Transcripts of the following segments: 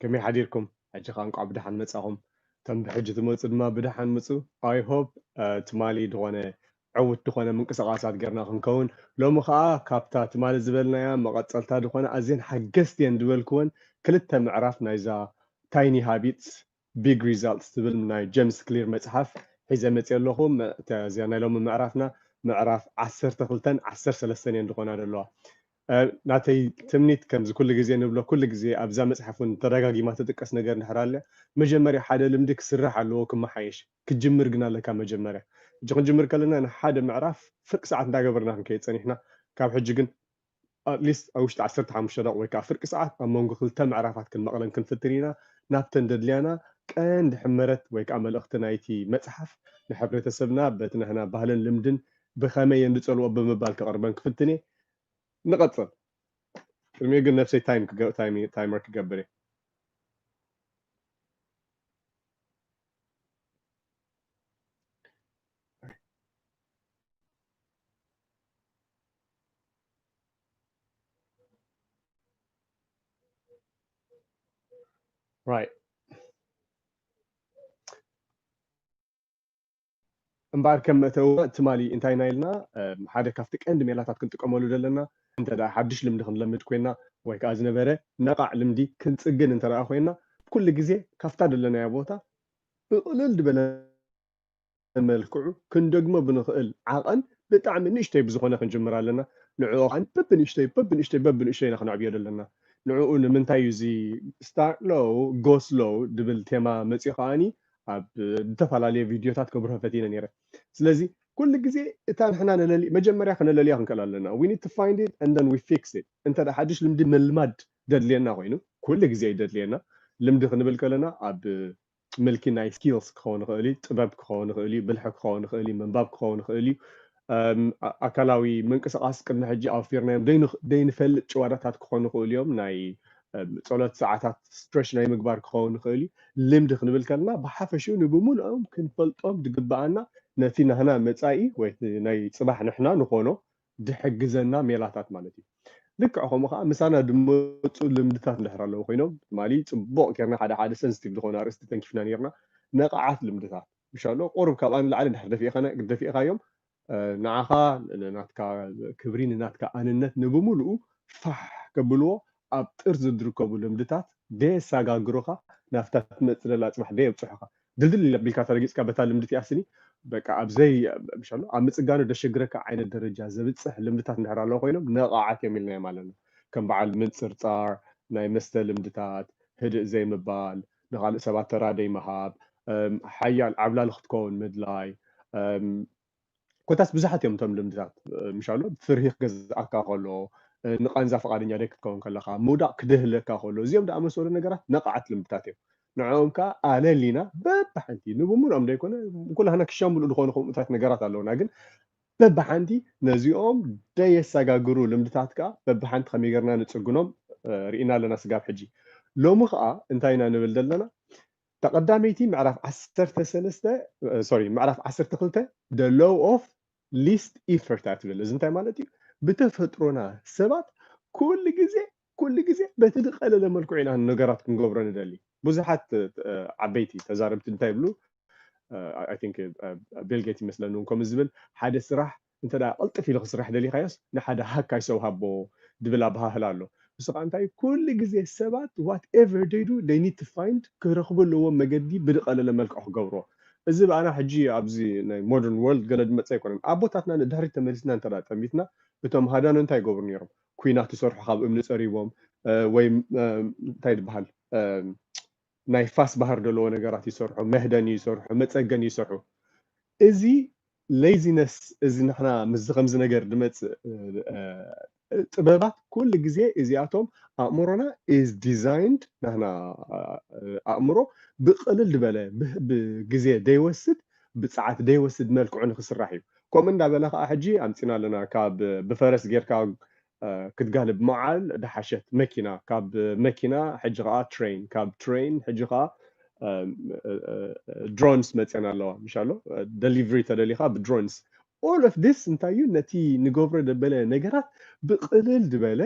ከመይ ሓዲርኩም ሕጂ ከኣ እንቋዕ ብደሓን መጻኹም እቶም ብሕጂ ትመጹ ድማ ብደሓን ምጹ i hope ትማሊ ድኾነ ዕውት ድኾነ ምንቅስቃሳት ጌርና ክንከውን ሎሚ ከኣ ካብታ ትማሊ ዝበልናያ መቐጸልታ ድኾነ ኣዝየን ሓገዝቲ እየን ድበልክወን ክልተ ምዕራፍ ናይዛ Tiny Habits Big Results ትብል ናይ ጀምስ ክሊር መጽሓፍ ሒዘ መጽየ ኣለኹ እዛ ናይ ሎሚ ምዕራፍና ምዕራፍ ዓሰርተ ክልተን ዓሰርተ ሰለስተን እየን ድኾና ደለዋ ናተይ ትምኒት ከምዚ ኩሉ ግዜ ንብሎ ኩሉ ግዜ ኣብዛ መጽሓፍ ውን ተዳጋጊማ ትጥቀስ ነገር እንድሕር ኣልያ መጀመርያ ሓደ ልምዲ ክስራሕ ኣለዎ ክመሓየሽ ክትጅምር ግን ኣለካ መጀመርያ ሕጂ ክንጅምር ከለና ንሓደ ምዕራፍ ፍርቂ ሰዓት እንዳገበርና ክንከይድ ጸኒሕና ካብ ሕጂ ግን at least ኣብ ውሽጢ ዓሰርተ ሓሙሽተ ደቂቅ ወይ ከኣ ፍርቂ ሰዓት ኣብ መንጎ ክልተ ምዕራፋት ክንመቅለን ክንፍትን ኢና ናብተን ደድልያና ቀንዲ ሕመረት ወይ ከኣ መልእክቲ ናይቲ መጽሓፍ ንሕብረተሰብና በቲ ናህና ባህልን ልምድን ብከመይ እንጸልዎ ብምባል ከቅርበን ክፍትን እየ ንቐፅል ቅድሚኡ ግን ነብሰይ ታይመር ክገብር እየ Right. እምበኣር ከም መእተዊ ትማሊ እንታይ ኢና ኢልና? ሓደ ካብቲ ቀንዲ ሜላታት ክንጥቀመሉ ዘለና እንተድኣ ሓድሽ ልምዲ ክንለምድ ኮይና ወይ ከኣ ዝነበረ ነቓዕ ልምዲ ክንጽግን እንተድኣ ኮይና ኩሉ ግዜ ካብታ ደለናያ ቦታ ብቕልል ዝበለ መልክዑ ክንደግሞ ብንኽእል ዓቐን ብጣዕሚ ንእሽተይ ብዝኾነ ክንጅምር ኣለና። ንዕኡ ከኣ በብንእሽተይ በብንእሽተይ በብንእሽተይ ኢና ክነዕብዮ ደለና። ንዕኡ ንምንታይ እዩ እዚ Start Low Go Slow ዝብል ቴማ መጺኡ ከኣ ኣብ ዝተፈላለየ ቪድዮታት ከብርሆ ፈቲነ ነይረ። ስለዚ ኩሉ ግዜ እታ ንሕና ነለሊ መጀመርያ ክነለልያ ክንክእል ኣለና። We need to find it and then we fix it። እንተ ሓድሽ ልምዲ ምልማድ ደድልየና ኮይኑ ኩሉ ግዜ እዩ ደድልየና። ልምዲ ክንብል ከለና ኣብ ምልኪ ናይ skills ክኸውን ይኽእል እዩ፣ ጥበብ ክኸውን ይኽእል እዩ፣ ብልሒ ክኸውን ይኽእል እዩ፣ ምንባብ ክኸውን ይኽእል እዩ፣ ኣካላዊ ምንቅስቓስ ቅድሚ ሕጂ ኣውፊርናዮም ዘይንፈልጥ ጭዋዳታት ክኾኑ ይኽእሉ እዮም። ናይ ጸሎት ሰዓታት ስትረች ናይ ምግባር ክኸውን ይኽእል እዩ። ልምዲ ክንብል ከለና ብሓፈሽኡ ንብምሉኦም ክንፈልጦም ዝግብኣና ነቲ ናህና መጻኢ ወይ እቲ ናይ ጽባሕ ንሕና ንኾኖ ዝሕግዘና ሜላታት ማለት እዩ። ልክዕ ከምኡ ከኣ ምሳና ዝመጹ ልምድታት እንድሕር ኣለዉ ኮይኖም ትማሊ ጽቡቕ ጌርና ሓደ ሓደ ሰንስቲቭ ዝኾኑ ኣርእስቲ ተንኪፍና ኔርና ነቓዓት ልምድታት ምሻሎ ቁሩብ ካብኣ ንላዕሊ እንድሕር ደፊእኻና ደፊእኻዮም ንዓኻ ንናትካ ክብሪ ንናትካ ኣንነት ንብምሉኡ ፋሕ ከብልዎ ኣብ ጥርዚ ዝርከቡ ልምድታት ደየሳጋግሩኻ ናብታ ትመጽእ ዘላ ኣጽባሕ ደየብጽሑኻ ድልድል ኣቢልካ ተረጊጽካ በታ ልምዲ እቲኣ ስኒ በቃ ኣብ ዘይ ምሻሎ ኣብ ምጽጋኑ ደሸግረካ ዓይነት ደረጃ ዘብጽሕ ልምድታት እንድሕር ኣለዉ ኮይኖም ነቓዓት እዮም ኢልናዮም ኣለና ከም በዓል ምንጽርጻር ናይ መስተ ልምድታት ህድእ ዘይምባል ንኻልእ ሰባት ተራ ደይምሃብ፣ ሓያል ዓብላሊ ክትከውን ምድላይ፣ ኮታስ ብዙሓት እዮም እቶም ልምድታት። ምሻሉ ፍርሂ ክገዝኣካ ከሎ፣ ንቓንዛ ፍቓደኛ ደይክትከውን ከለኻ፣ ምውዳቕ ክድህለካ ከሎ፣ እዚኦም ድኣመሰሉ ነገራት ነቓዓት ልምድታት እዮም። ንዕኦም ከኣ ኣለሊና በብሓንቲ፣ ንብምሉኦም ደይኮነ፣ ኩላህና ክሻ ምሉእ ድኾኑ ከምኡታት ነገራት ኣለዉና፣ ግን በብሓንቲ ነዚኦም ደየሰጋግሩ ልምድታት ከኣ በብሓንቲ ከመይ ጌርና ንጽግኖም ርኢና ኣለና ስጋብ ሕጂ። ሎሚ ከኣ እንታይ ኢና ንብል ዘለና እታ ቀዳመይቲ ምዕራፍ ዓሰርተ ሰለስተ ሶሪ ምዕራፍ ዓሰርተ ክልተ the law of least effort እያ ትብል። እዚ እንታይ ማለት እዩ? ብተፈጥሮና ሰባት ኩሉ ግዜ ኩሉ ግዜ በቲ ዝቀለለ መልክዑ ኢና ነገራት ክንገብሮ ንደሊ ብዙሓት ዓበይቲ ተዛረብቲ እንታይ ይብሉ ኣይ ቲንክ ቤልጌት ይመስለኒ እውን ከምኡ ዝብል ሓደ ስራሕ እንተ ቅልጥፍ ኢሉ ክስራሕ ደሊኻዮስ ንሓደ ሃካይ ሰው ሃቦ ዝብል ኣበሃህላ ኣሎ ንሱ ከዓ እንታይ እዩ ኩሉ ግዜ ሰባት ዋት ኤቨር ደይ ዱ ደይ ኒድ ቱ ፋይንድ ክረኽቡ ኣለዎም መገዲ ብዝቀለለ መልክዑ ክገብርዎ እዚ ብኣና ሕጂ ኣብዚ ናይ ሞደርን ወርልድ ገለ ዝመፀ ኣይኮነን ኣቦታትና ንድሕሪት ተመሊስና እንተ ጠሚትና እቶም ሃዳኖ እንታይ ይገብሩ ነይሮም ኩናት ዝሰርሑ ካብ እምኒ ፀሪቦም ወይ እንታይ ድበሃል ናይ ፋስ ባህር ደለዎ ነገራት ይሰርሑ፣ መህደኒ ይሰርሑ፣ መፀገኒ ይሰርሑ። እዚ ሌይዚነስ እዚ ንሕና ምስዚ ከምዚ ነገር ድመፅእ ጥበባት ኩሉ ግዜ እዚኣቶም ኣእምሮና ኢዝ ዲዛይንድ ናህና ኣእምሮ ብቅልል ድበለ ብግዜ ደይወስድ ብፀዓት ደይወስድ መልክዑ ንክስራሕ እዩ። ከምኡ እንዳበለ ከኣ ሕጂ ኣምጺና ኣለና ካብ ብፈረስ ጌርካ ክትጋልብ ምዓል ድሓሸት መኪና ካብ መኪና ሕጂ ከኣ ትረይን ካብ ትረይን ሕጂ ከኣ ድሮንስ መጽየን ኣለዋ ምሻሎ ደሊቨሪ ተደሊካ ብድሮንስ ኦል ኦፍ ዲስ እንታይ እዩ ነቲ ንገብሮ ደበለ ነገራት ብቅልል ድበለ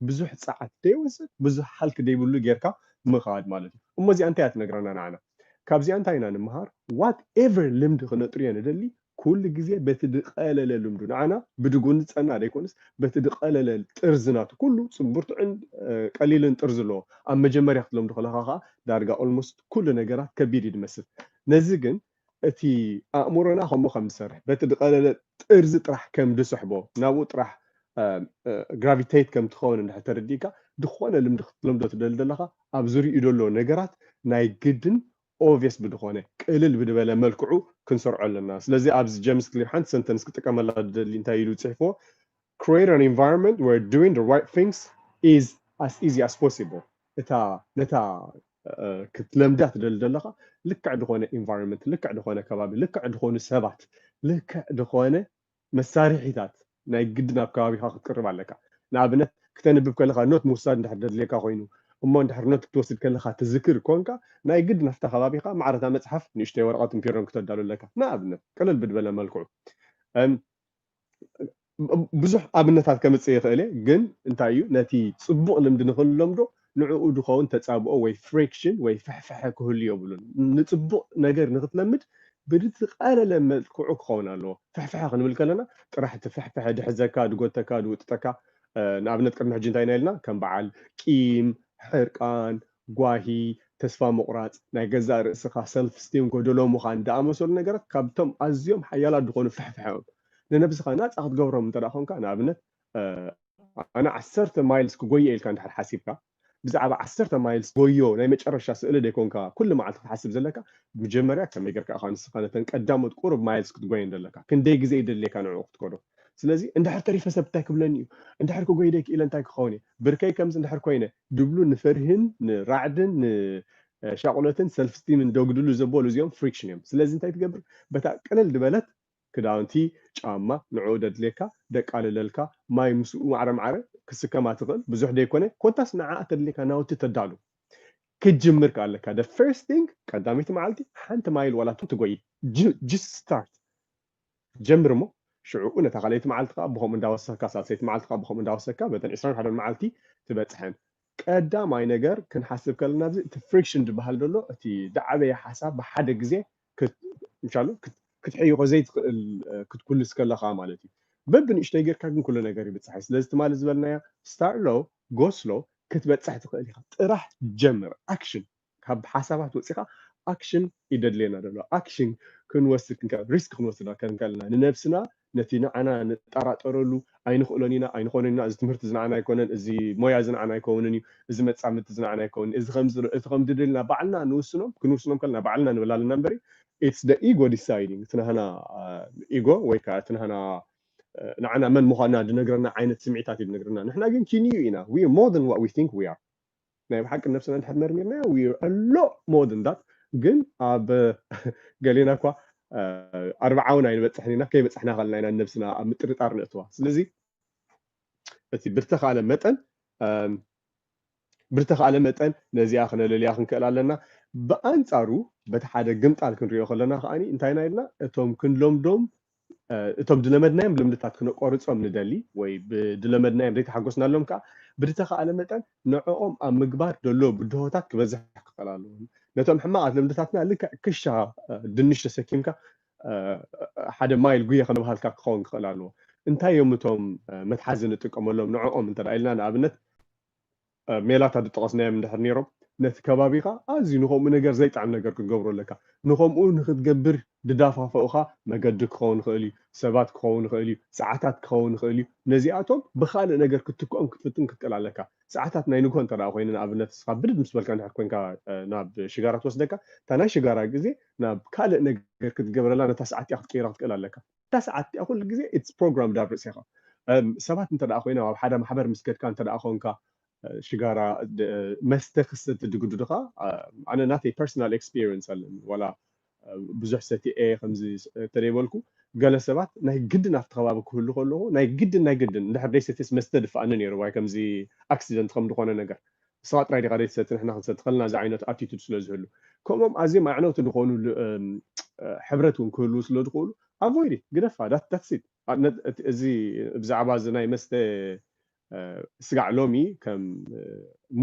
ብዙሕ ጸዓት ደይወስድ ብዙሕ ሃልኪ ደይብሉ ጌርካ ምኻድ ማለት እዩ እሞ እዚኣ እንታይ እያ ትነግረና ንዓና ካብዚኣ እንታይ ኢና ንምሃር what ever ልምዲ ክነጥርዮ ንደሊ ኩሉ ግዜ በቲ ድቀለለ ልምዱ ንዓና ብድጉን ዝጸና ደይኮንስ በቲ ድቀለለ ጥርዚ ናቱ ኩሉ ጽንቡርትዕን ቀሊልን ጥርዚ ኣለዎ ኣብ መጀመርያ ክትለምዱ ከለኻ ከኣ ዳርጋ ኦልሞስት ኩሉ ነገራት ከቢድ እዩ ድመስል ነዚ ግን እቲ ኣእምሮና ከምኡ ከም ዝሰርሕ፣ በቲ ዝቐለለ ጥርዚ ጥራሕ ከም ዝስሕቦ፣ ናብኡ ጥራሕ ግራቪተይት ከም ትኸውን እንድሕር ተረዲእካ፣ ዝኾነ ልምዲ ክትለምዶ ትደሊ ዘለኻ፣ ኣብ ዝርይኡ ዘሎ ነገራት ናይ ግድን ኦቭየስ ብዝኾነ፣ ቅልል ብዝበለ መልክዑ ክንሰርዖ ኣለና። ስለዚ ኣብዚ ጀምስ ክሊር ሓንቲ ሰንተንስ ክጥቀመላ ዝደሊ እንታይ ኢሉ እዩ ጽሒፍዎ፣ Create an environment where doing the right things is as easy as possible እታ ነታ ክትለምዳ ትደሊ ዘለኻ ልክዕ ዝኾነ ኢንቫይሮንመንት ልክዕ ዝኾነ ከባቢ ልክዕ ዝኾኑ ሰባት ልክዕ ዝኾነ መሳርሒታት ናይ ግዲ ናብ ከባቢኻ ክትቅርብ ኣለካ ንኣብነት ክተንብብ ከለኻ ኖት ምውሳድ እንድሕር ደድልየካ ኮይኑ እሞ እንድሕር ኖት ክትወስድ ከለኻ ትዝክር ኮንካ ናይ ግድ ናፍታ ከባቢኻ ማዕረታ መፅሓፍ ንእሽተይ ወረቐትን ፒሮን ክተዳሉ ኣለካ ንኣብነት ቅልል ብድበለ መልክዑ ብዙሕ ኣብነታት ከምጽእ ይኽእል እየ ግን እንታይ እዩ ነቲ ጽቡቕ ልምዲ ንኽንለምዶ ንዕኡ ድኸውን ተጻብኦ ወይ ፍሪክሽን ወይ ፍሕፍሐ ክህሉ የብሉን ንጽቡቕ ነገር ንኽትለምድ ብዝተቃለለ መልክዑ ክኸውን ኣለዎ ፍሕፍሐ ክንብል ከለና ጥራሕ እቲ ፍሕፍሐ ድሕዘካ ድጎተካ ድውጥጠካ ንኣብነት ቅድሚ ሕጂ እንታይ ኢና ኢልና ከም በዓል ቂም ሕርቃን ጓሂ፣ ተስፋ ምቑራጽ፣ ናይ ገዛእ ርእስኻ፣ ሰልፍ ስቲም፣ ጎደሎ ምዃን ዝኣመሰሉ ነገራት ካብቶም ኣዝዮም ሓያላት ዝኾኑ ፍሕፍሐ እዮም። ንነብስኻ ናጻ ክትገብሮም እንተ ኰንካ፣ ንኣብነት ኣነ ዓሰርተ ማይልስ ክጐዪ እየ ኢልካ እንድሕር ሓሲብካ፣ ብዛዕባ ዓሰርተ ማይልስ ጐዮ ናይ መጨረሻ ስእሊ ዘይኰንካ ኩሉ መዓልቲ ክትሓስብ ዘለካ፣ መጀመርያ ከመይ ጌርካ ኢኻ ንስኻ ነተን ቀዳሞት ቁሩብ ማይልስ ክትጐየን ዘለካ? ክንደይ ግዜ ይደልየካ ንዕኡ ክትከዶ? ስለዚ እንድሕር ተሪፈ ሰብ እንታይ ክብለኒ እዩ? እንድሕር ክጐዪ ደይ ክኢለ እንታይ ክኸውን እየ? ብርከይ ከምዚ እንድሕር ኰይነ? ድብሉ ንፍርሂን ንራዕድን ንሻቁሎትን ሰልፍ ስቲምን ዶግድሉ ዘበሉ እዚኦም ፍሪክሽን እዮም ስለዚ እንታይ ትገብር በታ ቅልል ድበለት ክዳውንቲ ጫማ ንዕኡ ደድልየካ ደቃልለልካ ማይ ምስኡ ማዕረ ማዕረ ክስከማ ትኽእል ብዙሕ ደይኮነ ኮታስ ንዓኣ ተድልየካ ናውቲ ተዳሉ ክትጅምር ከኣ ኣለካ the first thing ቀዳመይቲ መዓልቲ ሓንቲ ማይል ዋላ ትጎይ just start ጀምር እሞ ሽዕኡ ነታ ካልኣይቲ መዓልቲ ከኣ ብኸምኡ እንዳወሰኽካ ሳልሰይቲ መዓልቲ ከኣ ብኸምኡ እንዳወሰኽካ በተን ዕስራን ሓደን መዓልቲ ትበጽሐን። ቀዳማይ ነገር ክንሓስብ ከለና ኣብዚ እቲ ፍሪክሽን ዝብሃል ዘሎ እቲ ዝዓበየ ሓሳብ ብሓደ ግዜ ምሻሉ ክትሕይኾ ዘይትኽእል ክትኩልስ ከለኻ ማለት እዩ። በብንእሽተይ ጌርካ ግን ኩሉ ነገር ይብጻሕ እዩ። ስለዚ ትማሊ ዝበልናያ ስታርት ሎው ጎ ስሎው ክትበጽሕ ትኽእል ኢኻ። ጥራሕ ጀምር ኣክሽን። ካብ ሓሳባት ወጺኻ ኣክሽን እዩ ደድልየና ደሎ። ኣክሽን ክንወስድ ክንከል ሪስክ ክንወስድ ከንከልና ንነብስና ነቲ ንዓና ንጣራጠረሉ ኣይንክእሎን ኢና ኣይንኾኖን ኢና እዚ ትምህርቲ እዚ ንዓና ኣይኮነን እዚ ሞያ እዚ ንዓና ኣይከውንን እዩ እዚ መጻምድቲ እዚ ንዓና ኣይከውንን እዚ ከምዚ ዶ እቲ ከምዚ ዶ ኢልና ባዕልና ንውስኖም ክንውስኖም ከለና ባዕልና ንብል ኣለና እምበሪ ኢትስ ደ ኢጎ ዲሳይዲንግ እቲ ናህና ኢጎ ወይ ከዓ እቲ ናህና ንዓና መን ምዃንና ዝነግረና ዓይነት ስምዒታት እዩ ዝነግረና ንሕና ግን ኪንዩ ኢና ዊ ሞር ዛን ዋት ዊ ቲንክ ዊ ኣር ናይ ብሓቂ ነብስና እንድሕር መርሚርናዮ we are a lot more than that ግን ኣብ ገሌና እኳ ኣርብዓ እውን ኣይንበፅሕን ኢና ከይበፅሕና ከለና ኢና ነብስና ኣብ ምጥርጣር ንእትዋ ስለዚ እቲ ብዝተኻእለ መጠን ብዝተኻእለ መጠን ነዚኣ ክነለልያ ክንክእል ኣለና ብኣንፃሩ በቲ ሓደ ግምጣል ክንሪኦ ከለና ከዓኒ እንታይና ኢልና እቶም ክንለምዶም እቶም ድለመድናዮም ልምድታት ክነቆርጾም ንደሊ ወይ ብድለመድናዮም ዘይተሓጎስናሎም ከኣ ብድተኻእለ መጠን ንዕኦም ኣብ ምግባር ደሎ ብድሆታት ክበዝሕ ክኸል ኣለዎ። ነቶም ሕማቓት ልምድታትና ልክዕ ክሻ ድንሽ ተሰኪምካ ሓደ ማይል ጉየ ከምባሃልካ ክኸውን ክኸል ኣለዎ። እንታይ እዮም እቶም መትሓዚ ንጥቀመሎም ንዕኦም እንተ ኢልና ንኣብነት ሜላታት ዝጠቐስናዮም እንድሕር ነይሮም፣ ነቲ ከባቢኻ ኣዝዩ ንኸምኡ ነገር ዘይጥዕም ነገር ክትገብሮ ኣለካ። ንኸምኡ ንኽትገብር ዝደፋፍኡኻ መገዲ ክኸውን ይኽእል እዩ፣ ሰባት ክኸውን ይኽእል እዩ፣ ሰዓታት ክኸውን ይኽእል እዩ። ነዚኣቶም ብኻልእ ነገር ክትትክኦም ክትፍትን ክትክእል ኣለካ። ሰዓታት ናይ ንግሆ እንተድኣ ኮይኑ ንኣብነት ንስኻ ብድድ ምስ በልካ እንድሕር ኮይንካ ናብ ሽጋራ ትወስደካ፣ እታ ናይ ሽጋራ ግዜ ናብ ካልእ ነገር ክትገብረላ ነታ ሰዓት እቲኣ ክትቅይራ ክትክእል ኣለካ። እታ ሰዓት እቲኣ ኩሉ ግዜ ኢትስ ፕሮግራምድ ኣብ ርእሴኻ ሰባት እንተ ደኣ ኮይኖም ኣብ ሓደ ማሕበር ምስ ከድካ እንተ ደኣ ኮንካ ሽጋራ መስተ ክሰቲ ድግዱድኻ ኣነ ናተይ ፐርሰናል ኤክስፒርየንስ ኣለኒ ዋላ ብዙሕ ሰቲኤ ከምዚ እንተደይበልኩ ገለ ሰባት ናይ ግድን ኣብቲ ከባቢ ክህሉ ከለኹ ናይ ግድን ናይ ግድን እንድሕር ደይሰትየስ መስተ ድፍኣኒ ነይሩ ዋይ ከምዚ ኣክሲደንት ከም ዝኾነ ነገር ንስኻ ጥራይ ዲኻ ዘይትሰቲ ንሕና ክንሰቲ ከለና ዝዓይነቱ ኣቲቱድ ስለ ዝህሉ ከምኦም ኣዝዮም ኣዕነውቲ ዝኾኑ ሕብረት እውን ክህልዉ ስለ ዝኽእሉ ኣቮይድ ኢት ግደፋ ዳትስ ኢት እዚ ብዛዕባ እዚ ናይ መስተ ስጋዕ ሎሚ ከም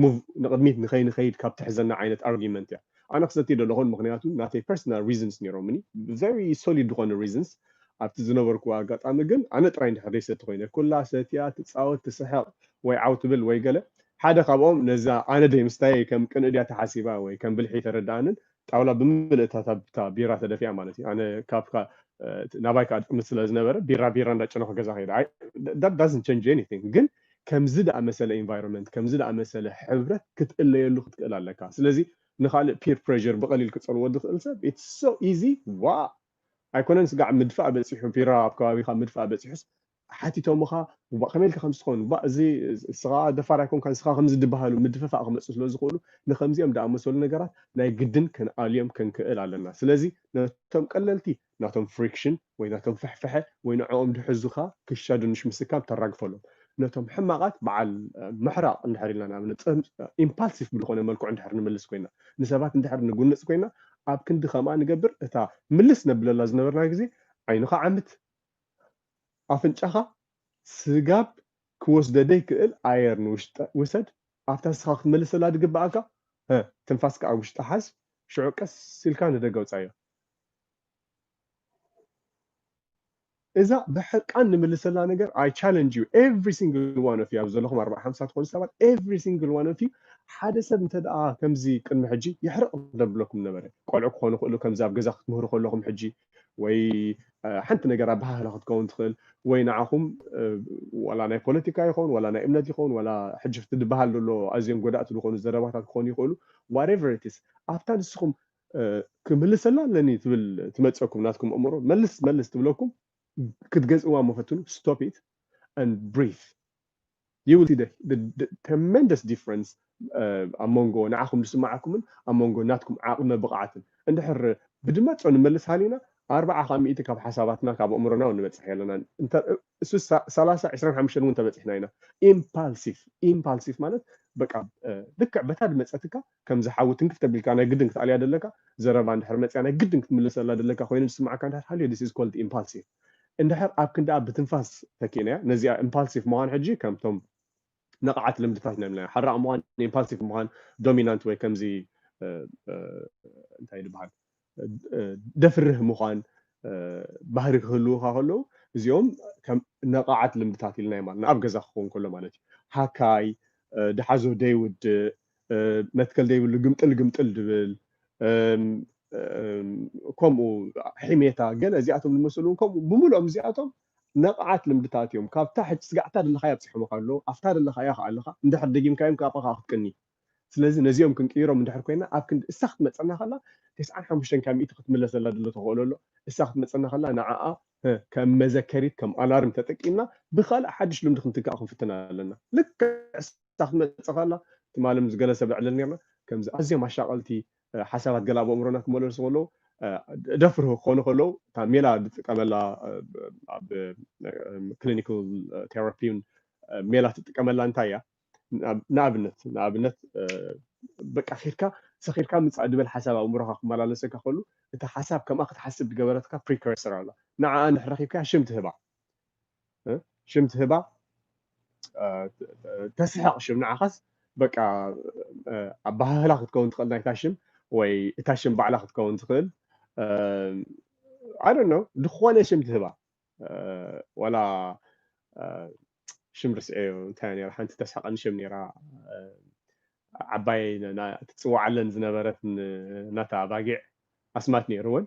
ሙቭ ንቕድሚት ንኸይንኸይድ ካብ ትሕዘና ዓይነት ኣርጊመንት እያ ኣነ ክሰቲ ደለኹን ምክንያቱ ናተይ ፐርሰናል ሪዝንስ ነይሮምኒ ቨሪ ሶሊድ ዝኾነ ሪዝንስ ኣብቲ ዝነበርኩዎ ኣጋጣሚ ግን ኣነ ጥራይ እንድሕር ዘይሰቲ ኮይነ ኩላ ሰትያ ትፃወት ትስሕቕ ወይ ዓው ትብል ወይ ገለ ሓደ ካብኦም ነዛ ኣነ ደይ ምስታየይ ከም ቅንኢ ድያ ተሓሲባ ወይ ከም ብልሒ ኣይተረድኣንን ጣውላ ብምልእታታ ብታ ቢራ ተደፊኣ ማለት እዩ ኣነ ካብ ናባይ ከኣ ድጥምት ስለ ዝነበረ ቢራ ቢራ እንዳ ጨነኹ ገዛ ከይደ ኣይ that doesn't change anything ግን ከምዚ ደኣ መሰለ ኢንቫይሮመንት ከምዚ ደኣ መሰለ ሕብረት ክትእለየሉ ክትክእል ኣለካ ስለዚ ንኻልእ ፒር ፕሬዠር ብቐሊል ክጸልዎ ዝኽእል ሰብ it's so easy ዋእ ኣይኮነን ስጋዕ ምድፋእ በጺሑ ቢራ ኣብ ከባቢኻ ምድፋእ በጺሑስ ሓቲቶምኻ እባ ከመይ ኢልካ ከምዚ ትኸውን እባ እዚ ንስኻ ደፋር ኣይኮንካን ንስኻ ከምዚ ድበሃሉ ምድፍፋእ ክመጽእ ስለ ዝኽእሉ ንከምዚኦም ድኣመሰሉ ነገራት ናይ ግድን ክንኣልዮም ክንክእል ኣለና ስለዚ ነቶም ቀለልቲ ናቶም ፍሪክሽን ወይ ናቶም ፍሕፍሐ ወይ ንዕኦም ድሕዙኻ ክሻ ድንሽ ምስካም ተራግፈሎም ነቶም ሕማቓት በዓል ምሕራቕ እንድሕር ኢልና ንኣብነት ኢምፓልሲቭ ብዝኾነ መልክዑ እንድሕር ንምልስ ኮይና ንሰባት እንድሕር ንጉንጽ ኮይና ኣብ ክንዲ ከምኣ ንገብር እታ ምልስ ነብለላ ዝነበርና ግዜ ዓይንኻ ዓምት ኣፍንጫኻ ስጋብ ክወስደ ደይክእል ኣየር ንውሽጢ ውሰድ ኣብታ ንስኻ ክትምልሰላ ድግበኣካ ህ ትንፋስካ ኣብ ውሽጢ ሓዝ ሽዑ ቀስ ኢልካ ንደገ ኣውጻዮ። እዛ ብሕርቃን ንምልሰላ ነገር ኣይ ቻለንጅ ዩ ኤቭሪ ሲንግል ዋን ኦፍ ዩ ኣብዚ ዘለኹም ኣርብዓ ሓምሳ ትኾኑ ሰባት ኤቭሪ ሲንግል ዋን ኦፍ ዩ ሓደ ሰብ እንተ ደኣ ከምዚ ቅድሚ ሕጂ የሕርቕ ደብለኩም ነበረ ቆልዑ ክኾኑ ይኽእሉ ከምዚ ኣብ ገዛ ክትምህሩ ከለኹም ሕጂ ወይ ሓንቲ ነገር ኣበሃህላ ክትከውን ትኽእል ወይ ንዓኹም ዋላ ናይ ፖለቲካ ይኸውን ዋላ ናይ እምነት ይኸውን ዋላ ሕጂ ፍቲ ዝበሃል ዘሎ ኣዝዮም ጎዳእቲ ዝኾኑ ዘረባታት ክኾኑ ይኽእሉ ዋትኤቨር ኢትስ ኣብታ ንስኹም ክምልሰላ ኣለኒ ትብል ትመፀኩም ናትኩም እምሮ መልስ መልስ ትብለኩም ክትገዝእዋ እሞ ፈትኑ ስቶፕ ኢት ኣንድ ብሪዝ you will see the the tremendous difference ኣብ መንጎ ንዓኹም ዝስምዓኩምን ኣብ መንጎ ናትኩም ዓቕመ ብቕዓትን እንድሕር ብድመጾ ንመልስ ሃሊና ኣርብዓ ካብ ሚእቲ ካብ ሓሳባትና ካብ ኣእምሮና እውን ንበጽሕ የለና እሱ ሰላሳ ዕስራን ሓሙሽተን እውን ተበጺሕና ኢና ኢምፓልሲቭ ኢምፓልሲቭ ማለት በቃ ልክዕ በታ ድመፀትካ ከም ዝሓዊ ትንክፍ ተቢልካ ናይ ግድን ክትኣልያ ደለካ ዘረባ እንድሕር መፅያ ናይ ግድን ክትምልሰላ ደለካ ኮይኑ ዝስማዕካ እንድሕር ሃልዮ ዲስ ኢዝ ኮልድ ኢምፓልሲቭ እንድሕር ኣብ ክንድኣ ብትንፋስ ተኪእናያ፣ ነዚኣ ኢምፓልሲቭ ምዃን ሕጂ ከምቶም ንቕዓት ልምድታት ናይ ምልናዮ፣ ሓራቕ ምዃን፣ ኢምፓልሲቭ ምዃን፣ ዶሚናንት ወይ ከምዚ እንታይ ድበሃል ደፍርህ ምዃን ባህሪ ክህልውኻ ከለዉ እዚኦም ከም ነቓዓት ልምድታት ኢልናዮም ኣለና ኣብ ገዛ ክኸውን ከሎ ማለት እዩ ሃካይ ድሓዞ ደይውድእ መትከል ዘይብሉ ግምጥል ግምጥል ዝብል ከምኡ ሕሜታ ገለ እዚኣቶም ዝመስሉ እውን ከምኡ ብምልኦም እዚኣቶም ነቕዓት ልምድታት እዮም ካብታ ሕጂ ስጋዕታ ዘለኻያ ኣብፅሖምካ ኣለዉ ኣብታ ዘለኻያ ከዓ ኣለኻ እንድሕር ደጊምካዮም ካብኣ ከዓ ክትቅኒ ስለዚ ነዚኦም ክንቅይሮም እንድሕር ኮይና ኣብ ክንዲ እሳ ክትመፀና ከላ ተስዓን ሓሙሽተን ካብ ሚእቲ ክትምለስ ዘላ ዘሎ ተኽእሎ ኣሎ እሳ ክትመፀና ከላ ንዓኣ ከም መዘከሪት ከም ኣላርም ተጠቂምና ብካልእ ሓድሽ ልምዲ ክንትክኣ ክንፍትን ኣለና ልክዕ ንሳ ክትመጽእ ከላ ትማሊ ምስ ገለ ሰብ ነዕልል ኔርና ከምዚ ኣዝዮም ኣሻቀልቲ ሓሳባት ገለ ኣብ ኣእምሮና ክመላለሱ ከለዉ ደፍርሁ ክኾኑ ከለዉ እታ ሜላ ዝጥቀመላ ኣብ ክሊኒካል ቴራፒን ሜላ ትጥቀመላ እንታይ እያ ንኣብነት ንኣብነት በቃ ኬድካ ሰኺርካ ምፃእ ድበል ሓሳብ ኣእምሮኻ ክመላለሰካ ከሉ እቲ ሓሳብ ከምኣ ክትሓስብ ዝገበረትካ ፕሪከርሰር ኣላ ንዓኣ ንሕረኺብካ ሽም ትህባ ሽም ትህባ ተስሕቕ ሽም ንዓኻስ በቃ ኣባሃህላ ክትከውን ትኽእል ናይታ ሽም ወይ እታ ሽም ባዕላ ክትከውን ትኽእል ኣይ ዶንት ኖ ዝኾነ ሽም ትህባ ዋላ ሽም ርስዐዮ እንታይ ነራ ሓንቲ ተስሕቐኒ ሽም ነራ ዓባይ ትፅዋዓለን ዝነበረት ናታ ኣባጊዕ ኣስማት ነይሩወን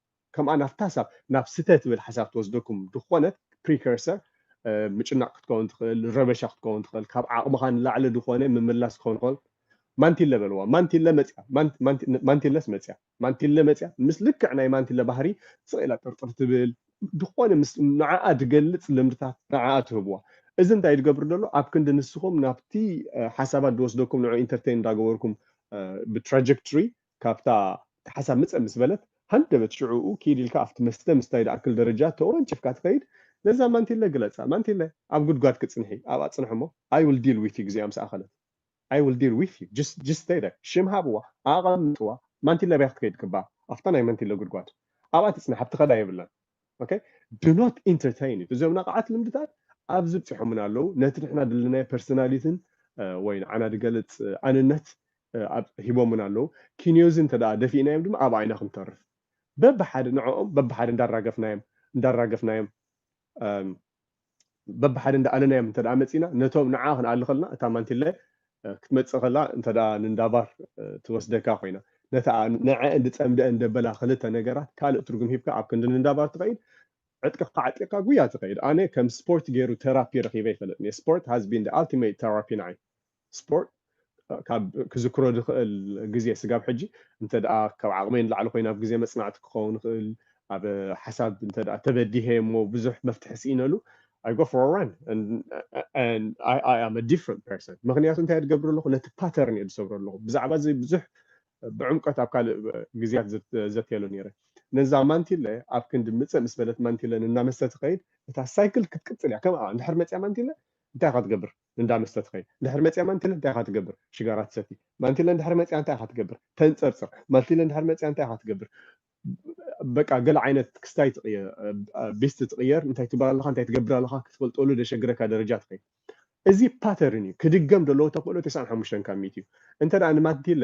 ከምኣ ናብታ ሐሳብ ናብ ስተ ትብል ሐሳብ ትወስደኩም ድኾነት ፕሪከርሰር ምጭናቕ ክትከውን ትኽእል ረበሻ ክትከውን ትኽእል ካብ ዓቕምኻ ንላዕሊ ድኾነ ምምላስ ክኸውን ይኽእል ማንቲለ በልዋ ማንቲለ መጽያ ማንቲለስ መጽያ ማንቲለ መጽያ ምስ ልክዕ ናይ ማንቲለ ባህሪ ስቕ ኢላ ጥርጥር ትብል ድኾነ ምስ ንዓኣ ድገልጽ ልምድታት ንዓኣ ትህብዋ እዚ እንታይ ድገብር ደሎ ኣብ ክንዲ ንስኹም ናብቲ ሓሳባት ድወስደኩም ንዑ ኢንተርቴን እንዳገበርኩም ብትራጀክትሪ ካብታ ካሕሳ ምጸ ምስ በለት ሃንደበት ሽዑኡ ኪድ ኢልካ ኣብቲ መስተ ምስታይ ድኣክል ደረጃ ተወንጭፍካ ትኸይድ ነዛ ማንቲለ ግለጻ ማንቲለ ኣብ ጉድጓድ ክጽንሒ ኣብኣ ጽንሒ እሞ i will deal with you ግዜኣ ምስ ኣኸለት i will deal with you just just stay there ሽም ሃብዋ ኣቐምጥዋ ማንቲለ ኣብያ ክትከይድ ክባ ኣብታ ናይ ማንቲለ ጉድጓድ ኣብኣ ትጽናሕ ኣብቲ ከዳ የብላን ኦኬ ዱ ኖት ኢንተርተይን ኢት እዞም ነቓዓት ልምድታት ኣብዚ ብፂሖሙና ኣለው ነቲ ንሕና ድልናዮ ፐርሰናሊትን ወይ ንዓና ድገልፅ ኣንነት ሂቦሙና ኣለው ኪንዮ እዚ እንተ ደፊእናዮም ድማ ኣብ ዓይና ክንተርፍ በብሓደ ንዕኦም በብሓደ እንዳራገፍናዮም እንዳራገፍናዮም በብሓደ እንዳ ኣለናዮም እንተ መጺና ነቶም ንዓ ክንኣሊ ከለና እታ ማንቲለ ክትመጽእ ከላ እንተ ንንዳባር ትወስደካ ኮይና ነታ ንዐኤን ዝጸምደኤን ደበላ ክልተ ነገራት ካልእ ትርጉም ሂብካ ኣብ ክንዲ ንንዳባር ትኸይድ ዕጥቅኻ ዓጢቕካ ጉያ ትኸይድ ኣነ ከም ስፖርት ገይሩ ተራፒ ረኺበ ኣይፈልጥን እየ ስፖርት ሃዝ ቢን ዘ ኣልቲመይት ተራፒ ንዓይ ስፖርት ካብ ክዝክሮ ዝኽእል ግዜ ስጋብ ሕጂ እንተ ካብ ዓቕመይ ንላዕሊ ኮይነ ኣብ ግዜ መጽናዕቲ ክኸውን ይኽእል ኣብ ሓሳብ እንተ ተበዲሀ እሞ ብዙሕ መፍትሒ ስኢነሉ I go for a run and, and I, I am a different person ምክንያቱ እንታይ ዝገብር ኣለኹ ነቲ ፓተርን እየ ዝሰብሮ ኣለኹ ብዛዕባ እዚ ብዙሕ ብዕምቀት ኣብ ካልእ ግዜያት ዘትየሉ ነይረ ነዛ ማንቲለ ኣብ ክንዲ ምፅእ ምስ በለት ማንቲለ እናመሰ ትኸይድ እታ ሳይክል ክትቅፅል እያ ከምኣ እንድሕር መፅያ ማንቲለ እንታይ ክትገብር እንዳ መስተ ትኸይድ እንድሕር መጺኣ ማንቲለ እንታይ ኢኻ ትገብር ሽጋራ ትሰቲ ማንቲለ እንድሕር መጺኣ እንታይ ኢኻ ትገብር ተንጸርጽር ማንቲለ እንድሕር መጺኣ እንታይ ኢኻ ትገብር በቃ ገለ ዓይነት ክስታይ ትቕየር ቤስት ትቕየር እንታይ ትብላ ኣለኻ እንታይ ትገብር ኣለኻ ክትፈልጠሉ ደሸግረካ ደረጃ ትኸይድ እዚ ፓተርን እዩ ክድገም ደለዎ ተኽእሎ 95 ካብ ሚእቲ እዩ እንተ ንማንቲለ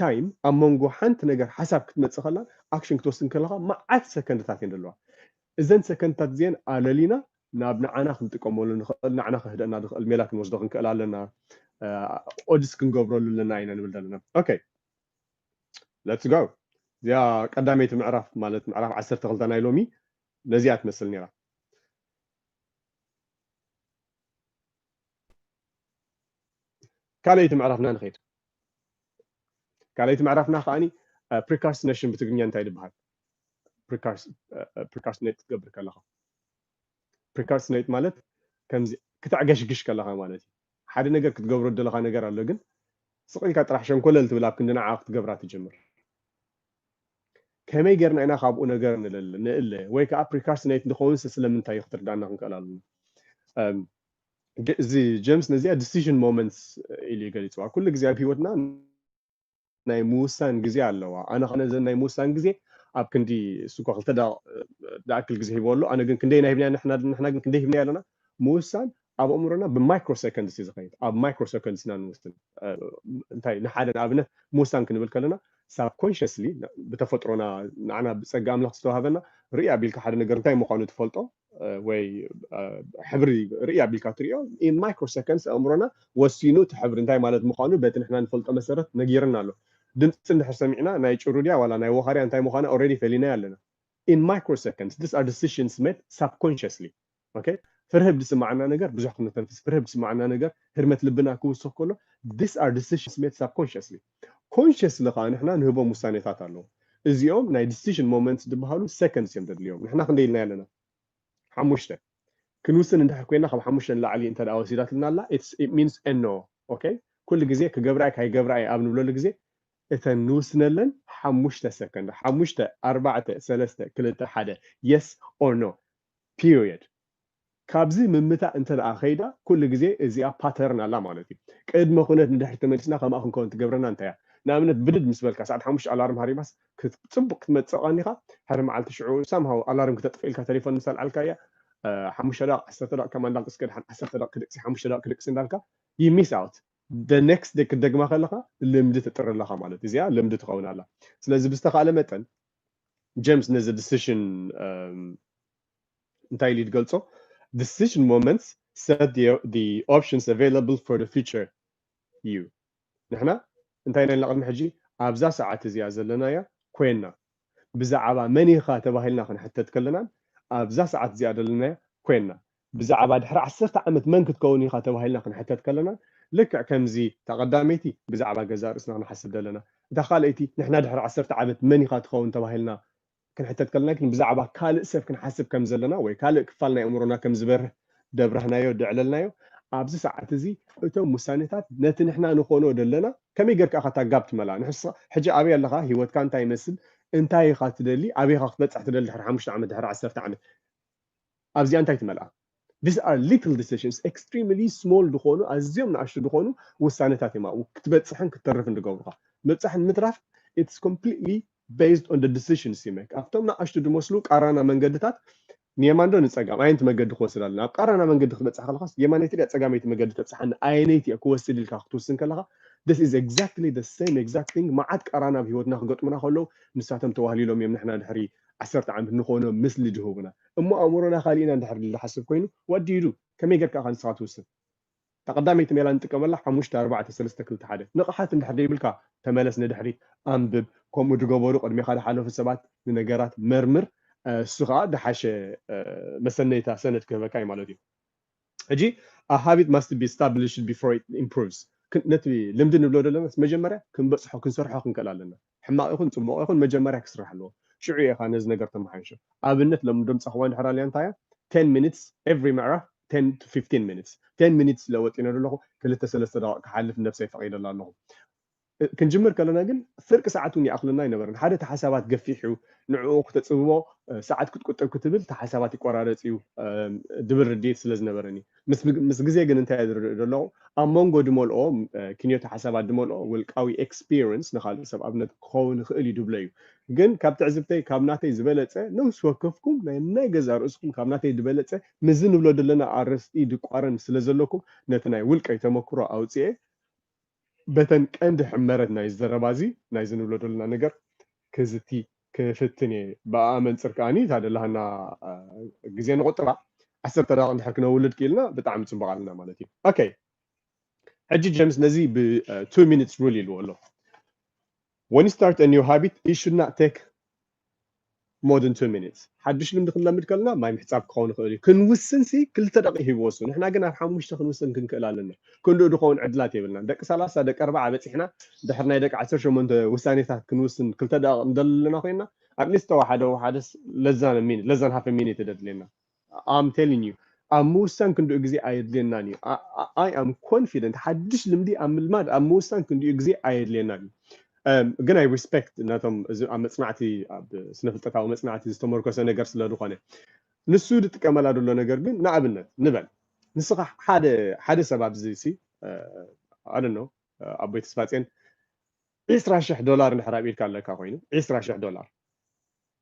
ታይም ኣብ መንጎ ሓንቲ ነገር ሓሳብ ክትመጽእ ከላን ኣክሽን ክትወስድን ከለኻ መዓት ሰከንድታት እየን ዘለዋ። እዘን ሰከንድታት እዚኤን ኣለሊና ናብ ንዓና ክንጥቀመሉ ንኽእል ንዓና ከህድእና ዝኽእል ሜላ ክንወስዶ ክንክእል ኣለና። ኦድስ ክንገብረሉ ኣለና ኢና ንብል ዘለና። ኦኬ ለትስ ጎ እዚኣ ቀዳመይቲ ምዕራፍ ማለት ምዕራፍ ዓሰርተ ክልተ ናይ ሎሚ ነዚኣ ትመስል ነይራ። ካልኣይቲ ምዕራፍና ንኸይድ። ካልኣይቲ ምዕራፍና ከዓኒ ፕሪካርስትነሽን ብትግርኛ እንታይ ዝበሃል ፕሪካርስትኔት ክትገብር ከለኻ ፕሪካርስትኔት ማለት ከምዚ ክተዕገሽግሽ ከለኻ ማለት እዩ ሓደ ነገር ክትገብሮ ዘለኻ ነገር ኣሎ ግን ስቕልካ ጥራሕ ሸንኮለል ትብል ኣብ ክንዲ ንዓ ክትገብራ ትጀምር ከመይ ጌርና ኢና ካብኡ ነገር ንእለ ወይ ከዓ ፕሪካርስትኔት ንኸውንስ ስለምንታይ እዩ ክትርዳእና ክንክእል ኣለና ገ- እዚ ጀምስ ነዚኣ ዲሲዥን ሞመንትስ ኢሉ እዩ ገሊፅዋ ኩሉ ግዜ ኣብ ሂወትና ናይ ምውሳን ግዜ ኣለዋ ኣነ ከነ ዘን ናይ ምውሳን ግዜ ኣብ ክንዲ እሱ እኳ ክልተ ደቂቕ ዝኣክል ግዜ ሂቦ ኣሎ ኣነ ግን ክንደይና ሂብና ንሕና ንሕና ግን ክንደይ ሂብና ኣለና ምውሳን ኣብ ኣእምሮና ብማይክሮ ሰከንድስ እዩ ዝኸይድ ኣብ ማይክሮ ሰከንድስ ኢና ንውስን እ፣ እንታይ ንሓደ ንኣብነት ምውሳን ክንብል ከለና ሳብኮንሽስሊ ብተፈጥሮና ንዓና ብፀጋ ኣምላኽ ዝተዋሃበና ርእይ ኣቢልካ ሓደ ነገር እንታይ ምዃኑ ትፈልጦ ወይ ሕብሪ ርእይ ኣቢልካ ትሪኦ ኢን ማይክሮ ሰከንድስ ኣእምሮና ወሲኑ እቲ ሕብሪ እንታይ ማለት ምዃኑ በቲ ንሕና ንፈልጦ መሰረት ነጊርና ኣሎ ድምፂ እንድሕር ሰሚዕና ናይ ጭሩ ድያ ዋላ ናይ ወኻርያ እንታይ ምዃና ኦልሬዲ ፈሊናዮ ኣለና ኢን ማይክሮ ሰከንድስ ዲስ ኣር ዲሲሽንስ ሜድ ሳብኮንሽስሊ ኦኬ ፍርህ ብዝስማዓና ነገር ብዙሕ ክንተንፍስ ፍርህ ብዝስማዓና ነገር ህርመት ልብና ክውስኽ ከሎ ዲስ ኣር ዲሲሽንስ ሜድ ሳብኮንሽስሊ ኮንሸስሊ ከኣ ንሕና ንህቦም ውሳኔታት ኣለዉ እዚኦም ናይ ዲሲሽን ሞመንትስ ድበሃሉ ሰከንድስ እዮም ደድልዮም ንሕና ክንደይ ኢልና ኣለና ሓሙሽተ ክንውስን እንድሕር ኮይና ካብ ሓሙሽተ ንላዕሊ እንተ ደኣ ወሲዳትልና ኣላ ኢት ሚንስ ን ኦኬ ኩሉ ግዜ ክገብራ እየ ካይገብራ እየ ኣብ ንብለሉ ግዜ እተን ንውስነለን ሓሙሽተ ሰከንድ ሓሙሽተ ኣርባዕተ ሰለስተ ክልተ ሓደ የስ ኦር ኖ ፒርየድ ካብዚ ምምታእ እንተደኣ ከይዳ ኩሉ ግዜ እዚኣ ፓተርን ኣላ ማለት እዩ። ቅድመ ኩነት ንድሕሪት ተመሊስና ከምኣ ክንከውን ትገብረና እንታይ እያ? ንኣብነት ብድድ ምስ በልካ ሰዓት ሓሙሽተ ኣላርም ሃሪማስ ጽቡቕ ክትመጽእ ቀኒኻ ሕሪ መዓልቲ ሽዑ some how ኣላርም ክተጥፍእ ኢልካ ተሌፎን ምስ ኣልዓልካያ ሓሙሽተ ደቕ ዓሰርተ ደቕ ከም ኣንዳ ቅስቀ ደሓን ዓሰርተ ደቕ ክድቅሲ ሓሙሽተ ደቕ ክድቅሲ እንዳልካ you miss out the next day ክትደግማ ከለኻ ልምዲ ተጥሪ ኣለኻ ማለት እዚኣ ልምዲ ትኸውን ኣላ። ስለዚ ብዝተኻእለ መጠን ጀምስ ነዚ decision እንታይ ኢሉ እዩ ዝገልጾ decision moments set the, the options available for the future እዩ ንሕና እንታይ ኢና ኢልና ቅድሚ ሕጂ ኣብዛ ሰዓት እዚኣ ዘለናያ ኮይና ብዛዕባ መን ኢኻ ተባሂልና ክንሕተት ከለናን ኣብዛ ሰዓት እዚኣ ዘለናያ ኮይና ብዛዕባ ድሕሪ ዓሰርተ ዓመት መን ክትከውን ኢኻ ተባሂልና ክንሕተት ከለና ልክዕ ከምዚ እታ ቀዳመይቲ ብዛዕባ ገዛ ርእስና ክንሓስብ ዘለና እታ ካልኣይቲ ንሕና ድሕሪ ዓሰርተ ዓመት መን ኢኻ ትኸውን ተባሂልና ክንሕተት ከለና ግን ብዛዕባ ካልእ ሰብ ክንሓስብ ከም ዘለና ወይ ካልእ ክፋል ናይ ኣእምሮና ከም ዝበርህ ደብራህናዮ ደዕለልናዮ ኣብዚ ሰዓት እዚ እቶም ውሳኔታት ነቲ ንሕና ንኾኖ ደለና ከመይ ጌርካ ኢኻ እታ ጋብ ትመልኣ ንሕስኻ ሕጂ ኣበይ ኣለኻ ሂወትካ እንታይ ይመስል እንታይ ኢኻ ትደሊ ኣበይ ኢኻ ክትበጽሕ ትደሊ ድሕሪ ሓሙሽተ ዓመት ድሕሪ ዓሰርተ ዓመት ኣብዚኣ እንታይ ትመልኣ? These are little decisions፣ extremely small ዝኾኑ፣ ኣዝዮም ንኣሽቱ ዝኾኑ ውሳነታት እዮም ኣብኡ ክትበጽሕን ክትተርፍን ዝገብሩኻ። ምብጻሕን ምትራፍ it's completely based on the decisions you make፣ ኣብቶም ንኣሽቱ ዝመስሉ ቃራና መንገድታት ንየማን ዶ ንጸጋም፣ ኣየንቲ መገዲ ክወስድ ኣለኒ፣ ኣብ ቃራና መንገዲ ክትበጽሕ ከለኻስ የማነይቲ ድያ ጸጋመይቲ መገዲ ተብጽሓኒ፣ ኣየነይቲ እየ ክወስድ ኢልካ ክትውስን ከለኻ This is exactly the same exact thing፣ መዓት ቃራና ኣብ ህይወትና ክገጥሙና ከለዉ ንሳቶም ተዋህሊሎም እዮም ንሕና ድሕሪ ዓሰርተ ዓመት ንኾኖ ምስሊ ድሁቡና እሞ ኣእምሮና ካሊእ ኢና እንድሕር ድል ድሓስብ ኮይኑ what do you do ከመይ ጌርካ ኢኻ ንስኻ ትውስን እታ ቀዳመይቲ ሜላ ንጥቀመላ ሓሙሽተ ኣርባዕተ ሰለስተ ክልተ ሓደ ንቕሓት እንድሕር ደይብልካ ተመለስ ንድሕሪት ኣንብብ ከምኡ ድገበሩ ቅድሜኻ ድሓለፉ ሰባት ንነገራት መርምር እሱ ኸኣ ድሓሸ መሰነይታ ሰነድ ክህበካ እዩ ማለት እዩ ሕጂ a habit must be established before it improves ነቲ ልምዲ ንብሎ ደለናስ መጀመርያ ክንበጽሖ ክንሰርሖ ክንክእል ኣለና ሕማቕ ይኹን ጽቡቕ ይኹን መጀመርያ ክስራሕ ኣለዎ ሽዑ ኢኻ ነዚ ነገር ተመሓይሾ ኣብነት ሎሚ ድምጺ ኣኸዋን ድሕር ኣልያ እንታይ እያ ten minutes every ምዕራፍ ten to fifteen minutes ten minutes ኢለ ወጢነ ደለኹ ክልተ ሰለስተ ደቓቕ ክሓልፍ ንነብሰይ ፈቒደላ ኣለኹ ክንጅምር ከለና ግን ፍርቂ ሰዓት እውን ይኣኽለና ኣይነበረን ሓደ እቲ ሓሳባት ገፊሕ እዩ ንዕኡ ክተጽብቦ ሰዓት ክትቁጥብ ክትብል እቲ ሓሳባት ይቆራረጽ እዩ ድብል ርድኢት ስለ ዝነበረኒ ምስ ግዜ ግን እንታይ እየ ዝርእ ዘለኹ ኣብ መንጎ ድመልኦ ክንዮተ ሓሳባት ድመልኦ ውልቃዊ ኤክስፒርንስ ንካልእ ሰብ ኣብነት ክኸውን ይኽእል እዩ ድብሎ እዩ ግን ካብ ትዕዝብተይ ካብ ናተይ ዝበለጸ ነውሲ ወከፍኩም ናይ ናይ ገዛ ርእስኹም ካብ ናተይ ድበለጸ ምስዚ ንብሎ ደለና ኣርእስቲ ድቋረን ስለ ዘለኩም ነቲ ናይ ውልቀይ ተመክሮ ኣውጺኤ በተን ቀንዲ ሕመረት ናይዚ ዘረባ እዚ ናይዚ ንብሎ ደሎና ነገር ክዝቲ ክፍትን እየ። ብኣኣ መንጽር ከኣኒ እታ ደላሃና ግዜ ንቑጥባ። ዓሰርተ ደቓቕ እንድሕር ክነውልድ ክኢልና ብጣዕሚ ጽቡቕ ኣለና ማለት እዩ። ኦከይ ሕጂ ጀምስ ነዚ ብ two minutes rule ኢልዎ ኣሎ። When you start a new habit it should not take more than two minutes ሓዱሽ ልምዲ ክንለምድ ከለና ማይ ምሕጻብ ክኸውን ይኽእል እዩ ክንውስን ሲ ክልተ ደቂቅ ይህብ ወሱ ንሕና ግን ኣብ ሓሙሽተ ክንውስን ክንክእል ኣለና ክንድኡ ድኸውን ዕድላት የብልናን ደቂ ሰላሳ ደቂ ኣርባዓ በጺሕና ድሕሪ ናይ ደቂ ዓሰርተ ሸሞንተ ውሳኔታት ክንውስን ክልተ ደቂቅ ንደሊ ኣለና ኮይና ኣትሊስት ተወሓደ ወሓደስ ለዛን ሚኒት ለዛን ሃፍ ሚኒት ደድልየና ኣም ቴሊንግ ዩ ኣብ ምውሳን ክንድኡ ግዜ ኣየድልየናን ዩ ኣይ ኣም ኮንፊደንት ሓድሽ ልምዲ ኣብ ምልማድ ኣብ ምውሳን ክንድኡ ግዜ ኣየድልየናን ዩ ግን ኣይ ሪስፔክት ነቶም እዚ ኣብ መጽናዕቲ ኣብ ስነ ፍልጠታዊ መጽናዕቲ ዝተመርኮሰ ነገር ስለ ዝኾነ ንሱ ዝጥቀመላ ዘሎ ነገር ግን ንኣብነት ንበል ንስኻ ሓደ ሓደ ሰብ ኣብዚ ሲ ኣደ ነው ኣቦይ ተስፋጼን ዒስራ ሽሕ ዶላር እንድሕር ኣብኢድካ ኣለካ ኮይኑ ዒስራ ሽሕ ዶላር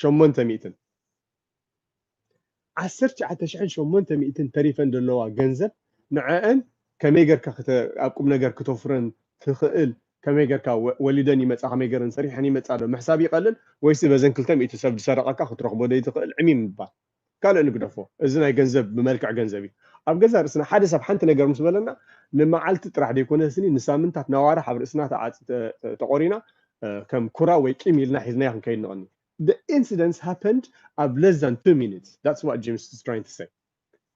ሸሞንተ ሚእትን ዓሰርተ ትሽዓተ ሽሕን ሸሞንተ ሚእትን ተሪፈን ዘለዋ ገንዘብ ንዐኣን ከመይ ገርካ ክተ ኣብ ቁምነገር ክተፍረን ትኽእል ከመይ ገርካ ወ ወሊደን ይመጻ ከመይ ገረን ሰሪሐን ይመጻ ዶ ምሕሳብ ይቀልል ወይሲ በዘን ክልተ ሚእቲ ሰብ ዝሰረቀካ ክትረኽቦ ደይትኽእል ዕሚም ምባል ካልእ ንግደፎ እዚ ናይ ገንዘብ ብመልክዕ ገንዘብ እዩ ኣብ ገዛ ርእስና ሓደ ሰብ ሓንቲ ነገር ምስ በለና ንመዓልቲ ጥራሕ ዘይኮነስኒ ንሳምንታት ናዋራሕ ኣብ ርእስና ተቖሪና ከም ኩራ ወይ ቂም ኢልና ሒዝናዮ ክንከይድ ንቕኒ The incidents happened ኣብ less than two minutes that's what James is trying to say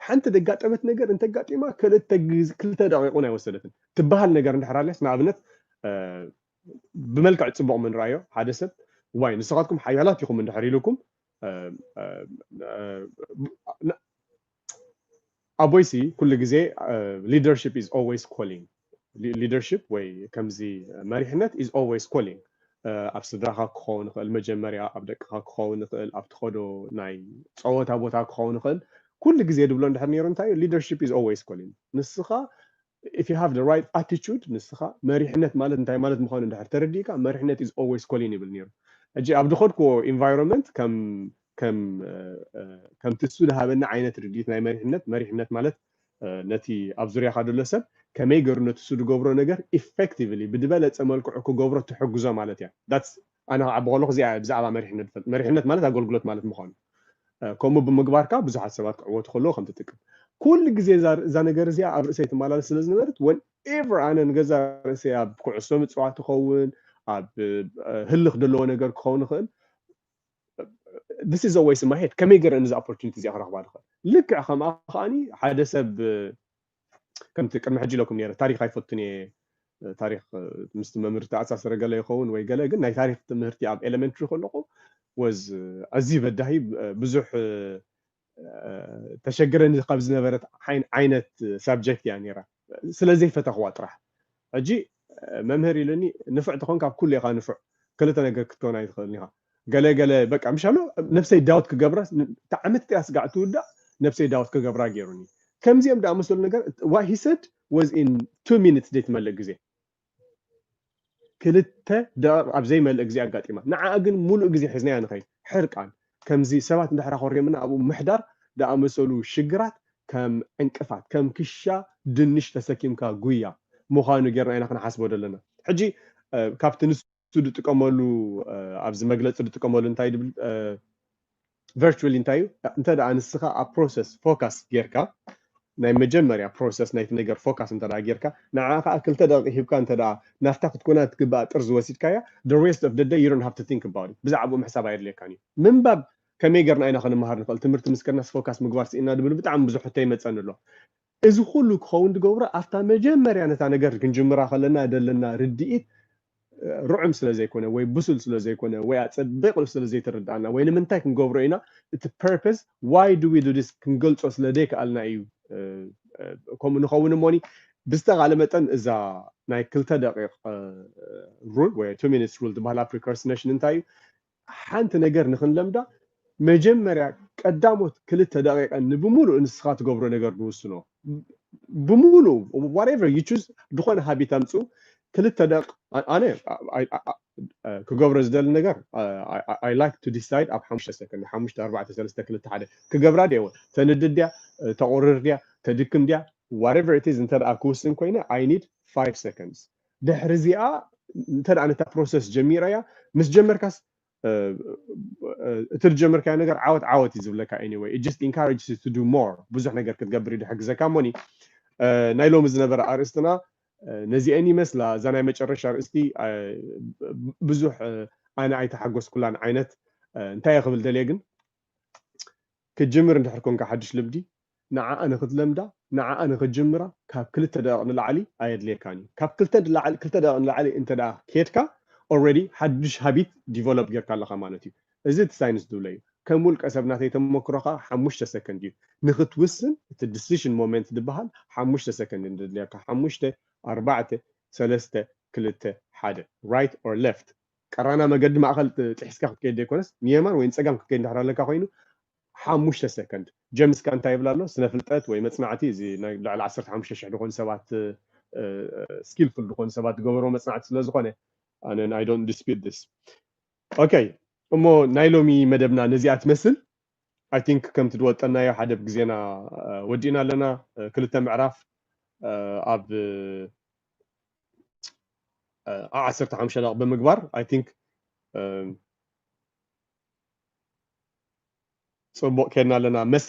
ሓንቲ ደጋጠመት ነገር እንተጋጢማ ክልተ ክልተ ደቂቕ እውን ኣይወሰደትን ትበሃል ነገር እንድሕር ኣልያስ ንኣብነት ብመልክዕ ፅቡቕ ምንረኣዮ ሓደ ሰብ ዋይ ንስኻትኩም ሓያላት ኢኹም እንድሕር ኢሉኩም ኣቦይሲ ኩሉ ግዜ ሊደርሽፕ ኢዝ ኦልዌይስ ኮሊንግ ሊደርሽፕ ወይ ከምዚ መሪሕነት ኢዝ ኦልዌይስ ኮሊንግ ኣብ ስድራኻ ክኸውን ይኽእል መጀመርያ ኣብ ደቅኻ ክኸውን ይኽእል ኣብ ትኸዶ ናይ ፀወታ ቦታ ክኸውን ይኽእል ኩሉ ግዜ ድብሎ እንድሕር ነይሩ እንታይ ሊደርሽፕ ኢዝ ኦልዌይስ ኮሊንግ ንስኻ if you have the right attitude ንስኻ መሪሕነት ማለት እንታይ ማለት ምዃኑ እንድሕር ተረዲእካ መሪሕነት is always calling ይብል ነይሩ ሕጂ ኣብ ዝኸድክዎ environment ከም ከም ከምቲ እሱ ዝሃበኒ ዓይነት ርድኢት ናይ መሪሕነት መሪሕነት ማለት ነቲ ኣብ ዙርያኻ ዘሎ ሰብ ከመይ ገሩ ነቲ እሱ ዝገብሮ ነገር ኢፌክቲቭሊ ብዝበለፀ መልክዑ ክገብሮ ትሕግዞ ማለት እያ ኣነ ክዓቢ ከለኹ እዚኣ እያ ብዛዕባ መሪሕነት ዝፈልጥ፣ መሪሕነት ማለት ኣገልግሎት ማለት ምዃኑ፣ ከምኡ ብምግባርካ ብዙሓት ሰባት ክዕወቱ ከለዉ ከም ትጥቅም። ኩሉ ግዜ እዛ እዛ ነገር እዚኣ ኣብ ርእሰይ ትመላለስ ስለ ዝነበረት whenever ኣነ ንገዛእ ርእሰይ ኣብ ኩዕሶ ምጽዋት ትኸውን ኣብ ህልኽ ዘለዎ ነገር ክኸውን ይኽእል this is always in my head ከመይ ገረ ነዚ opportunity እዚኣ ክረኽባ ዝኽእል ልክዕ ከምኣ ከኣ ሓደ ሰብ ከምቲ ቅድሚ ሕጂ ኢለኩም ነይረ ታሪኽ ኣይፈቱን እየ ታሪኽ ምስቲ መምህር ተኣሳሰረ ገለ ይኸውን ወይ ገለ ግን ናይ ታሪኽ ትምህርቲ ኣብ ኤሌመንትሪ ከለኹ ወዝ ኣዝዩ በዳሂ ብዙሕ ተሸግረኒ ካብ ዝነበረት ዓይነት ሳብጀክት እያ ነይራ ስለዘይፈተኽዋ ጥራሕ ሕጂ መምህር ኢሉኒ ንፉዕ ተኾንካ ኣብ ኩሉ ኢኻ ንፉዕ ክልተ ነገር ክትከውን ኣይትኽእልን ኢኻ ገለ ገለ በቃ ምሽ ኣሎ ነብሰይ ዳውት ክገብራ ትዓመት እቲኣ ስጋዕ ትውዳእ ነብሰይ ዳውት ክገብራ ጌሩኒ ከምዚኦም ድኣመሰሉ ነገር ዋት ሂ ሰድ ወዝ ኢን ቱ ሚኒትስ ዘይትመልእ ግዜ ክልተ ደቂቕ ኣብ ዘይመልእ ግዜ ኣጋጢማ ንዓኣ ግን ሙሉእ ግዜ ሒዝናያ ንኸይድ ሕርቃን ከምዚ ሰባት እንድሕር ኣኾሪምና ኣብኡ ምሕዳር ድኣመሰሉ ሽግራት ከም ዕንቅፋት፣ ከም ክሻ ድንሽ ተሰኪምካ ጉያ ምዃኑ ጌርና ኢና ክንሓስቦ ደለና። ሕጂ ካብቲ ንሱ ድጥቀመሉ ኣብዚ መግለጺ ድጥቀመሉ እንታይ ድብል Virtually እንታይ እዩ እንተ ንስኻ ኣብ Process Focus ጌርካ ናይ መጀመርያ ፕሮሰስ ናይቲ ነገር ፎካስ እንተ ጌርካ ንዓኣ ከኣ ክልተ ደቂቅ ሂብካ እንተ ናብታ ክትኮና ትግብኣ ጥርዚ ወሲድካያ the rest of the day you don't have to think about it ብዛዕብኡ ምሕሳብ ኣየድልየካን እዩ ምንባብ ከመይ ጌርና ኢና ክንመሃር ንክእል ትምህርቲ ምስ ከድናስ ፎካስ ምግባር ሲኢንና ድብሉ ብጣዕሚ ብዙሕ ሕቶ ይመጸኒ ኣሎ እዚ ኩሉ ክከውን ድገብሮ ኣብታ መጀመርያ ነታ ነገር ክንጅምራ ከለና ደለና ርድኢት ርዑም ስለ ዘይኮነ ወይ ብሱል ስለ ዘይኮነ ወይ ኣጸቢቑ ስለ ዘይተረድኣና ወይ ንምንታይ ክንገብሮ ኢና እቲ purpose why do we do this ክንገልጾ ስለ ዘይከኣልና እዩ ከምኡ ንኸውን እሞኒ ብዝተኻለ መጠን እዛ ናይ ክልተ ደቂቕ ሩል ወይ two minutes rule ዝበሃላ ፕሪከርስነሽን እንታይ እዩ ሓንቲ ነገር ንኽንለምዳ መጀመርያ ቀዳሞት ክልተ ደቂቀን ንብሙሉእ ንስኻ ትገብሮ ነገር ንውስኖ ብሙሉእ ዋትኤቨር ዩ ቹዝ ዝኾነ ሃቢት ኣምጽኡ ክልተ ደቅ ኣነ ክገብሮ ዝደሊ ነገር ኣይ ላይክ ቱ ዲሳይድ ኣብ ሓሙሽተ ሰከንድ ሓሙሽተ ኣርባዕተ ሰለስተ ክልተ ሓደ ክገብራ ድየ ተንድድ ድያ ተቑርር ድያ ተድክም ድያ ዋትኤቨር ኢት ኢዝ እንተ ክውስን ኮይነ ኣይ ኒድ ፋይቭ ሰከንድስ ድሕሪ እዚኣ እንተ ነታ ፕሮሰስ ጀሚረያ ምስ ጀመርካስ እቲ ዝጀመርካዮ ነገር ዓወት ዓወት እዩ ዝብለካ ኤኒወይ ኢት ጀስት ኢንካሬጅስ ዩ ቱ ዱ ሞር ብዙሕ ነገር ክትገብር እዩ ዝሕግዘካ እሞኒ ናይ ሎሚ ዝነበረ ኣርእስትና ነዚአን ይመስላ እዛ ናይ መጨረሻ ኣርእስቲ ብዙሕ ኣነ ኣይተሓጎስኩላን ዓይነት እንታይ ክብል ደልየ ግን ክትጅምር እንድሕር ኮንካ ሓድሽ ልምዲ ንዓኣ ንክትለምዳ ንዓኣ ንክትጅምራ ካብ ክልተ ደቂቅ ንላዕሊ ኣየድልየካን እዩ ካብ ክልተ ንላዕሊ ክልተ ደቂቅ ንላዕሊ እንተ ኬድካ ኦረዲ ሓዱሽ ሃቢት ዲቨሎፕ ጌርካ ኣለካ ማለት እዩ እዚ እቲ ሳይንስ ዝብሎ እዩ ከም ውልቀ ሰብ ናተይ ተመክሮ ከኣ ሓሙሽተ ሰከንድ እዩ ንክትውስን እቲ ድስሽን ሞመንት ዝብሃል ሓሙሽተ ሰከንድ እዩ ዘድልየካ ሓሙሽተ ኣርባዕተ ሰለስተ ክልተ ሓደ ራይት ኦር ለፍት ቀራና መገዲ ማእከል ጥሒስካ ክትከይድ ዘይኮነስ ንየማን ወይ ንጸጋም ክትከይድ እንድሕር ኣለካ ኮይኑ ሓሙሽተ ሰከንድ ጀምስ ከኣ እንታይ ይብል ኣሎ ስነ ፍልጠት ወይ መጽናዕቲ እዚ ናይ ልዕሊ ዓሰርተ ሓሙሽተ ሽሕ ዝኾኑ ሰባት ስኪልፉል ዝኾኑ ሰባት ዝገበርዎ መጽናዕቲ ስለ ዝኾነ ኣነ ኣይ ዶንት ዲስፒት ዲስ ኦኬ እሞ ናይ ሎሚ መደብና ነዚኣ ትመስል ኣይ ቲንክ ከምቲ ድወጠናዮ ሓደ ብ ግዜና ወዲእና ኣለና ክልተ ምዕራፍ ኣብ ዓሰርተ ሓሙሽተ ደቂቕ ብምግባር ኣይ ቲንክ ጽቡቅ ኬድና ኣለና መስለኒ።